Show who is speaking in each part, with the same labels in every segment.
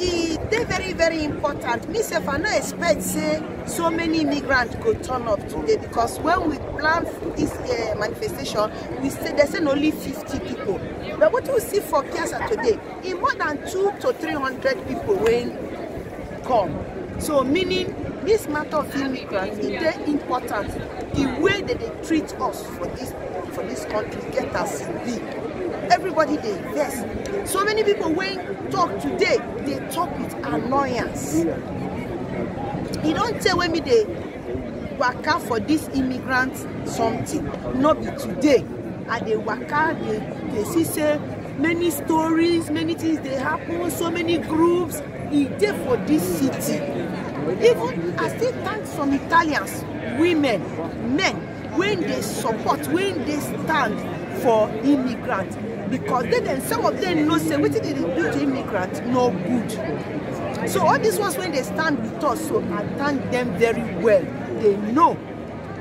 Speaker 1: e dey very very important me sef i no expect say so many immigrants go turn up today because when we plan this uh, manifestation we say they say na only 50 people but wetin we see for piazza today e more than two to three hundred people wey come so meaning this matter of immigrants e dey important the way they dey treat us for this for this country get as e be everybody dey vex so many people wey talk today dey talk with annoyance e don tey wey me dey waka for this immigrant something no be today i dey waka dey dey see say many stories many things dey happen so many groups e dey for this city even i still thank some italians women men wey dey support wey dey stand for immigrants because they dem some of them know say wetin dey do to immigrants no good so all these ones wey dey stand with us so i thank them very well they know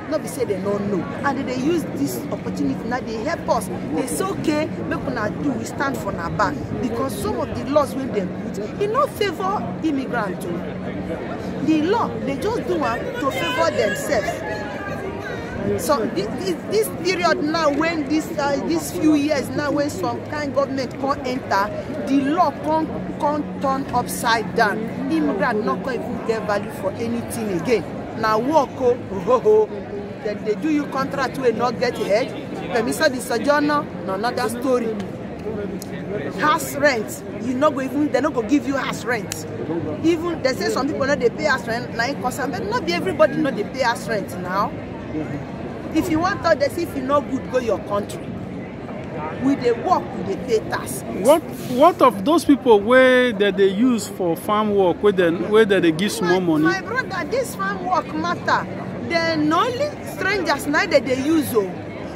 Speaker 1: no be say they no know and they dey use this opportunity now dey help us dey say okay make una do we stand for na back because some of the laws wey dem put e no favour immigrant o the law dey just do am to favour themselves so this, this, this period now when this uh, this few years now when some kind government come enter the law come come turn upside down immigrant no come even get value for anything again na work o hohoho dem dey do you contract wey no get head permission di sojourner na another story house rent you no go even they no go give you house rent even they say some people no dey pay house rent na im cause am but no be everybody no dey pay house rent now if you wan tell them say if you no good go your country we dey work we dey pay tax What what of those people wey dem dey use for farm work wey dem wey dem dey give small money? my brother this farm work matter dem na only strangers na dem dey use o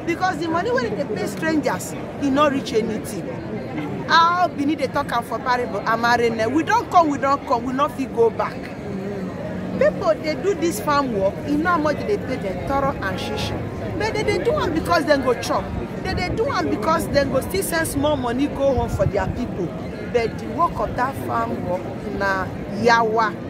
Speaker 1: because the money wey dey pay strangers e no reach anything how benin dey talk am for parable amarene we don come we don come we no fit go back people dey do this farm work e know how much dey pay dem thorough and shishi but dem dey do am because dem go chop dem dey do am because dem go still send small money go home for their people but the work of that farm work na yawa.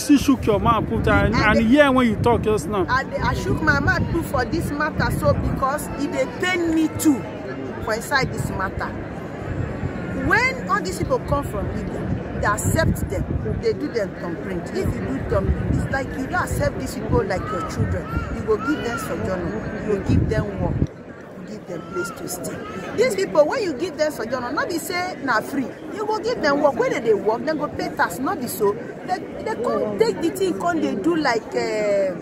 Speaker 1: still shook your mouth put and I and dey- hear when you talk just now I, dey- I shook my mouth too for this matter so because e dey pain me too for inside this matter. When all these people come from Igbo, they accept them, they do them thumbprint. If you do thumbprint, it's like you don't accept these people like your children. You go give them sojourner, you go give them work. give dem place to stay dis pipo wey you give dem sojourner no be say na free you go give dem work wey dem dey work dem go pay tax no be so dem come take di thing come dey do like eh,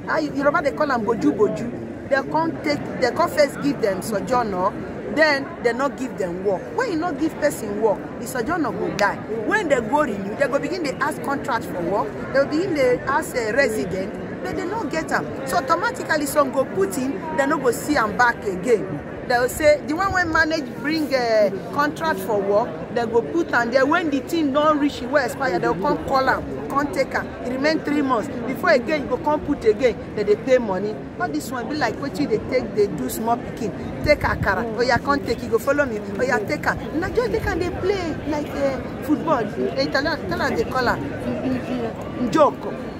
Speaker 1: how yoruba dey call am boju boju dem come take dem come first give dem sojourner then dem no give dem work when you no give person work di sojourner go die when dem go renew dem go begin dey ask contract for work dem go begin dey ask eh, resident but they no get am so automatically some go put in they no go see am back again they go say the one wey manage bring uh, contract for work they go put am there when the thing don reach e wey expire they go come call am come take am e remain three months before again you go come put again they dey pay money all this one be like wetin you dey take dey do small pikin take akara oya come take you go follow me oya take am na just take am dey play like uh, football italian italian dey call am njoko.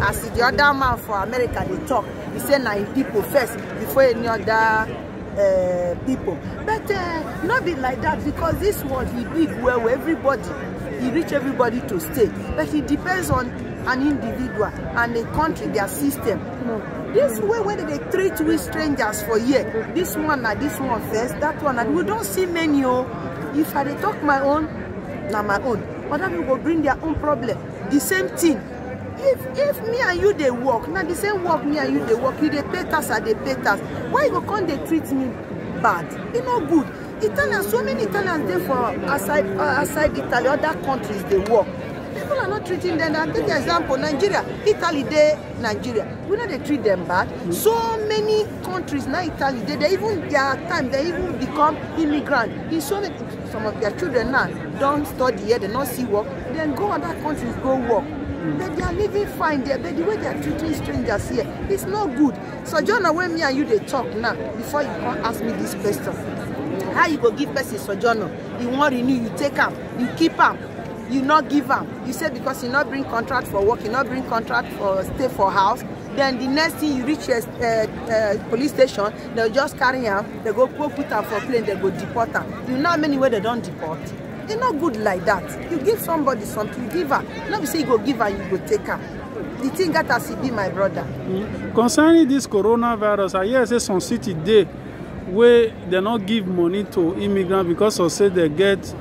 Speaker 1: as the other man for america dey talk he say na him people first before any other uh, people but uh, no be like that because this world e big well well everybody e reach everybody to stay but e depends on an individual and a country their system this way wey dem dey treat we strangers for here this one na this one first that one na we don see many o if i dey talk my own na my own other people go bring their own problem the same thing if if me and you dey work na the same work me and you dey work you dey pay tax i dey pay tax why you go come dey treat me bad e no good italians so many italians dey for outside uh, outside italy other countries dey work people are not treating them i take the example nigeria italy dey nigeria we no dey treat them bad so many countries na italy dey there even their time they even become immigrant in so many some of their children now don study here dem no see work dem go other countries go work but they are living fine there but the way they are treating strangers here is no good so sojourner wey me and you dey talk now before you come ask me this question how you go give person sojourner you wan renew you take am you keep am you no give am you say because you no bring contract for work you no bring contract for stay for house then the next thing you reach your uh, uh, police station They just carry am, they go go put am for plane, they go deport am. You know how many wey they don deport? E no good like that. You give somebody something, give am. No be say you go give am, you go take am. The thing get as e be, my brother. Concerning this coronavirus, I hear say some city dey wey dem no give money to immigrants because of say dem get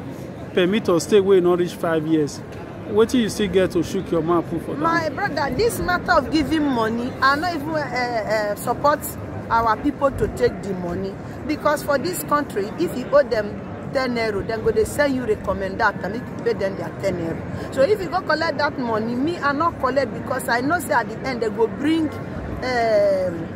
Speaker 1: permit of stay wey no reach five years. wetin you still get to shook your mouth put for down? my brother this matter of giving money i no even uh, uh, support our people to take the money because for this country if you owe them ten euro dem go dey send you recommend that and make you pay them their ten euro so if you go collect that money me i no collect because i know say at the end they go bring um,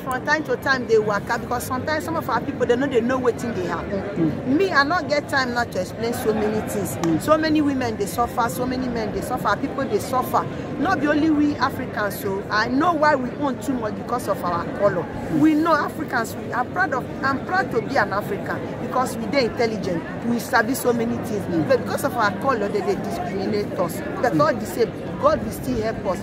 Speaker 1: from time to time dey waka because sometimes some of our people dey no dey know wetin dey happen mm. me i no get time now to explain so many things mm. so many women dey suffer so many men dey suffer people dey suffer no be only we africans so i know why we own too much because of our colour mm. we know africans we are proud of i'm proud to be an african because we dey intelligent we sabi so many things mm. but because of our colour they dey discriminate us but mm. all the same god will still help us